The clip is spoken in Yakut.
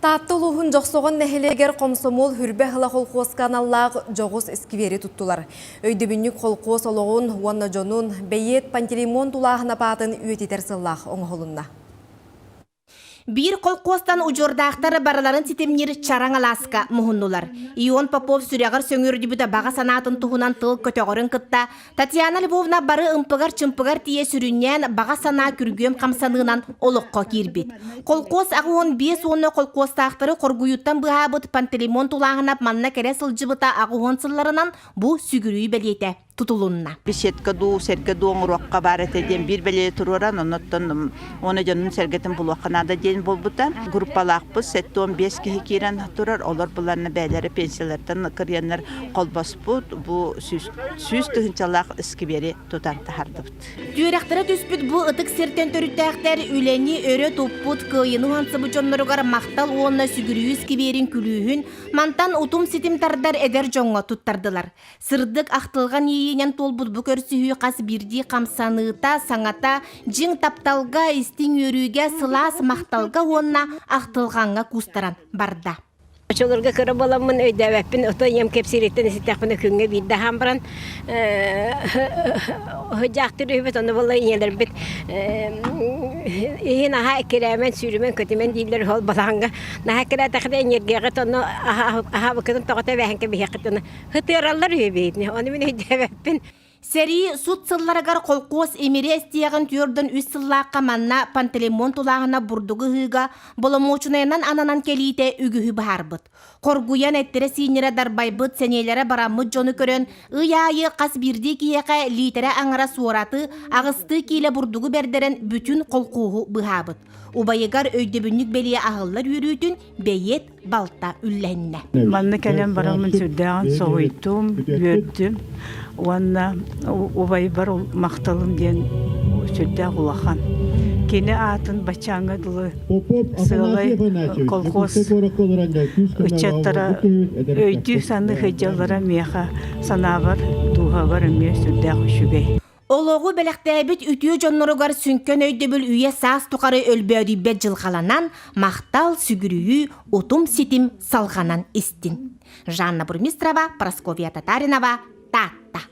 Таатта улууһун Дьохсоҕон нэһилиэгэр хомсомуол Хүрбэ ыһыла холхуоска аналлаах дьоҕус искибиэри туттулар. Өйдөбүнньүк холхуос олоҕун уонна дьонун бэйиэт Пантелеймон тулааһын апаатын үйэтитэр сыллаах оҥоһулунна. Биир холхуостан удьуордаахтар барыларын ситимниир чараҥ алааска муһуннулар. Ион Попов сүрэҕэр сөҥүөрдүбүтэ баҕа санаатын туһунан тыл көтөҕөрүн кытта Татьяна Львовна бары ымпыгар-чымпыгар тиийэ сүрүннээн баҕа санаа күргүөм хамсаныынан олоххо киирбит. Холкуос аҕы уон биэс уонна холкуостаахтары хоргуйууттан быһаабыт Пантелеймон Тулааһынап манна кэрэ сылдьыбыта аҕы уон сылларынан бу сүгүрүй бэлиэтэ тутулунна. Беседка дуу, сэргэ дуу оҥоруохха баар этэ диэн биир бэлиэ туруоран, оннуттан уонна дьонун сэргэтин булуохха наада диэн буолбута. Группалаахпыт сэттэ уон биэс киһи киирэн турар, олор быланна бэйэлэрэ пенсиялартан кырыйаннар холбоспут, бу сүүс сүүс тыһыынчалаах өскүбиэри тутан таһардыбыт. Үөрэхтэрэ түспүт бу ытык сиртэн төрүттээхтэр үлэни өрө туппут кыайыны уһансыбыт дьонноругар махтал уонна сүгүрүйүү скибиэрин күлүүһүн мантан утум-ситим тардар эдэр дьоҥҥо туттардылар. Сырдык ахтылҕан иэйиинэн туолбут бу көрсүһүү хас биирдии хамсаныыта, саҥата, дьиҥ тапталга, истиҥ үөрүүгэ, сылаас махталга уонна ахтылҕаҥҥа кустаран барда. Очолорго кыра боламмын өйдөөбөппүн, отой ийэм кэпсиириттэн иститэхпинэ күҥҥэ биирдэ аһаан баран дьаахтыыр үһүбүт, ону буолла ийэлэрбит иһин аһаа эккирээмэн, сүүрүмэн, көтүмэн дииллэр ол балаҕаҥҥа. Наһаа эккирээтэххинэ эньиэргээҕит ону аһаабыккытын тоҕо тэбээһин кэбиһиэххит, ытыараллар үһү биһигини, ону мин өйдөөбөппүн. Сэрии сут сылларыгар колхоз имириэстиэҕин түөрдөн үс сыллаахха манна пантелеймон тулааһына бурдугу ыһыыга боломуочунайынан ананан кэлиитэ үгүһү быһаарбыт. Хоргуйан эттэрэ-сииннэрэ дарбайбыт, сэниэлэрэ бараммыт дьону көрөн, ый аайы хас биирдии киһиэхэ лиитэрэ аҥара суораты, аҕыстыы киилэ бурдугу бердерэн бүтүн колхоһу быһаабыт. Убайыгар өйдөбүнньүк бэлиэ аһыллар үөрүүтүн бэйиэт балта үллэннэ. Манна кэлэн бараммын сүрдээҕин соһуйдум, үөрдүм уонна убайбар махталым диэн сүрдээх улахан. Кини аатын баччааҥҥа дылы сыалай колхоз ыччаттара өйдүү саныы сылдьаллара миэхэ санаабар дууһабар эмиэ сүрдээх үчүгэй. Олоҕу бэлэхтээбит үтүө дьонноругар сүҥкэн өйдөбүл үйэ-саас тухары өлбөөдүйбэт дьылҕаланан, махтал, сүгүрүйүү, утум-ситим салҕанан истин. Жанна Бурмистрова, Прасковья Татаринова, Таатта